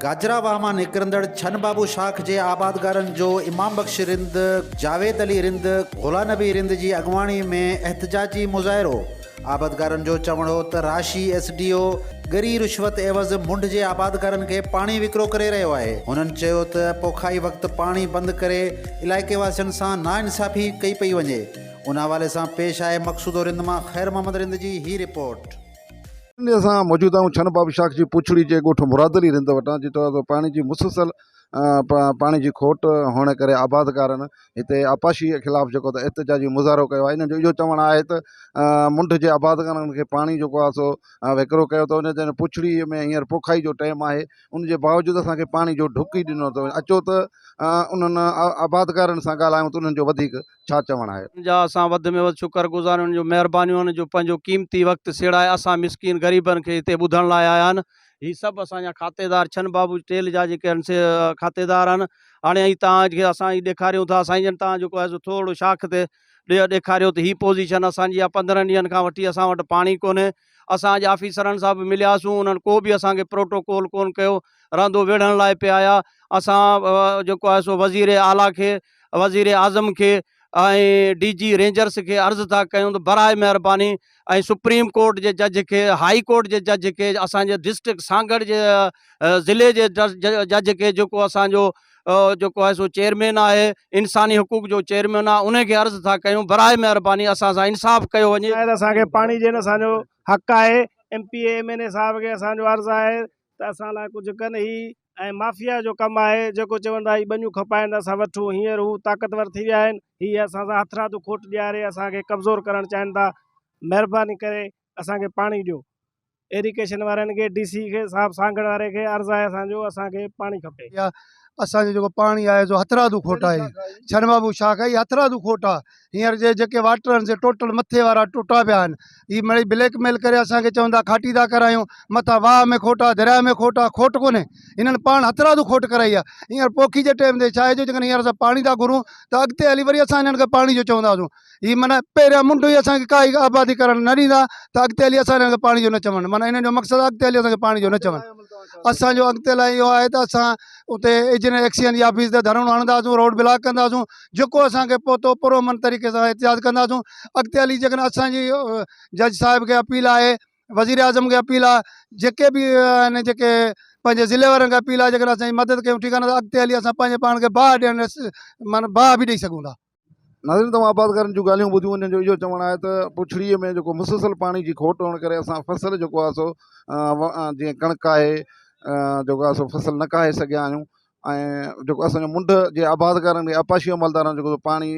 گاجرا واهه مان نڪرندڙ ڇن بابو شاخ جي آبادگارن جو امام بخش رند، جاويد علي رند، گهولا نبي رند جي اڳواڻي ۾ احتجاجي مظاهرو. آبادگارن جو چوڻ هو ته راشي ايس ڊي او ڳري رشوت عيوض منڍ جي آبادگارن کي پاڻي وڪرو ڪري رهيو آهي، هنن چيو ته پوکائي وقت پاڻي بند ڪري علائقي واسين سان ناانصافي ڪئي پئي وڃي، ان حوالي سان پيش آهي مقصودو رند مان خير محمد رند جي هي رپورٽ. سنڌ اسان موجود آهيون ڇن باب شاخ جي پوڇڙي جي ڳوٺ مراد علي رند وٽان جتي پاڻي جي مسلسل پاڻي جي کوٽ هئڻ ڪري آبادگارن هتي آبپاشي جي خلاف جيڪو ته احتجاجي مظاهرو ڪيو آهي انهن جو اهو چوڻ آهي ته منڍ جي آباد ڪارن کي پاڻي جيڪو آهي سو وهڪرو ڪيو اٿو انهن چيو پڇڙي ۾ هينئر پوکائي جو ٽائيم آهي ان جي باوجود اسان کي پاڻي جو ڍڪ ئي ڏنو اٿو اچو ته انهن آباد ڪارن سان ڳالهايون ته انهن جو وڌيڪ ڇا چوڻ آهي. ان جا اسان وڌ ۾ وڌ شڪر گذار آهيون انهن جون مهربانيون آهن جو پنهنجو قيمتي وقت سيڙائي اسان مسڪين غريبن کي هتي ٻڌڻ لاء آيا آهن. هي سڀ اسان جا کاتيدار ڇن بابو ٽيل جا جيڪي آهن سي کاتيدار آهن هاڻي ائين توهان کي اسان هي ڏيکاريون ٿا سائين جن توهان جيڪو آهي سو ٿورڙو شاخ تي ڏي ڏيکاريو ته هي پوزيشن اسان جي آهي پندرهن ڏينهن کان وٺي اسان وٽ پاڻي ڪونهي اسان اڄ آفيسرن سان به ملياسون انهن ڪو به اسان کي پروٽوڪول ڪون ڪيو رهندو ويڙهڻ لاء پي آيا اسان جيڪو آهي سو وزير اعليٰ کي وزيراعظم کي ۽ ڊي جي رينجرز کي عرض ٿا ڪيون ته براء مهرباني ۽ سپريم ڪورٽ جي جج کي هاء ڪورٽ جي جج کي اسان جي ڊسٽرڪٽ سانگهڙ جي ضلعي جي جج کي جيڪو اسان جو جيڪو آهي سو چيئرمين آهي انساني حقوق جو چيئرمين آهي ان کي عرض ٿا ڪيون براء مهرباني اسان سان انصاف ڪيو وڃي شايد اسان کي پاڻي جي نه اسان جو حق آهي M P A M N A صاحب کي اسان جو عرض آهي ته اسان لاء ڪجهه ڪن هي ۽ مافيا جو ڪم آهي جيڪو چون ٿا هي ٻنيون کپائين ته اسان وٺون هينئر هو طاقتور ٿي ويا آهن هي اسان سان هٿرادو کوٽ ڏياري اسان کي ڪمزور ڪرڻ چاهين ٿا مهرباني ڪري اسان کي پاڻي ڏيو ايريڪيشن وارن کي ڊي سي کي صاحب سانگهڙ واري کي عرض آهي اسان جو اسان کي پاڻي کپي اسان جو جيڪو پاڻي آهي سو هٿرادو کوٽ آهي ڇنبابو شاخ آهي هٿرادو کوٽ آهي ھينئر جي جيڪي واٽر آھن سي ٽوٽل مٿي وارا ٽٽا پيا آھن ھي مڙئي بليڪ ميل ڪري اسانکي چون تھا کاٽي تھا ڪرايون مٿان واھ ۾ کوٽ آھي درياء ۾ کوٽ آھي کوٽ ڪونھي ھنن پاڻ ھٿرادو کوٽ ڪرائي آھي ھينئر پوکي جي ٽيم تي ڇا ھي جو جيڪڏھن ھينئر اسان پاڻي تھا گھرون تھ اڳتي ھلي وري اسان ھنن کي پاڻي جو چونداسون ھي معنی پھريان منڍ ھي اسانکي ڪا ھي آبادي ڪرڻ نھ ڏيندا تھ اڳتي ھلي اسان ھنن کي پاڻي جو نھ چون معنی ھنن جو مقصد آھي اڳتي ھلي اسانکي پاڻي جو نھ چون اسانجو اڳتي لاء اھو آھي تھ اسان اتي اجنير ايڪسچينج جي آفيس تي ڌرڻو ھڻنداسون روڊ بلاڪ ڪنداسون جيڪو اسان کي پهتو پر امن طريقي سان احتجاج ڪنداسون اڳتي هلي جيڪڏهن اسانجي جج صاحب کي اپيل آهي وزير اعظم کي اپيل آهي جيڪي به آهن جيڪي پنهنجي ضلعي وارن کي اپيل آهي جيڪڏهن اسانجي مدد ڪيون ٺيڪ آهي نه اڳتي هلي اسان پنهنجي پاڻ کي باهه ڏيڻ معنيٰ باهه به ڏئي سگهون ٿا ناظرين توهان آبادگارن جون ڳالهيون ٻڌيون انهن جو اهو چوڻ آهي ته پڇڙيء ۾ جيڪو مسلسل پاڻي جي کوٽ هئڻ ڪري اسان فصل جيڪو آهي سو جيئن ڪڻڪ آهي جيڪو آهي سو فصل نه ڪاهي سگهيا آهيون ۽ جيڪو اسان جو منڍ جي آبادگارن ۾ آبپاشي جي عملدارن جو جيڪو پاڻي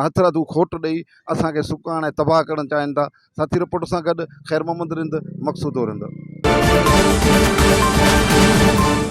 هٿ رادو کوٽ ڏئي اسان کي سڪاڻ ۽ تباهه ڪرڻ چاهين ٿا ساٿي رپورٽ سان گڏ خير محمد رند مقصود رند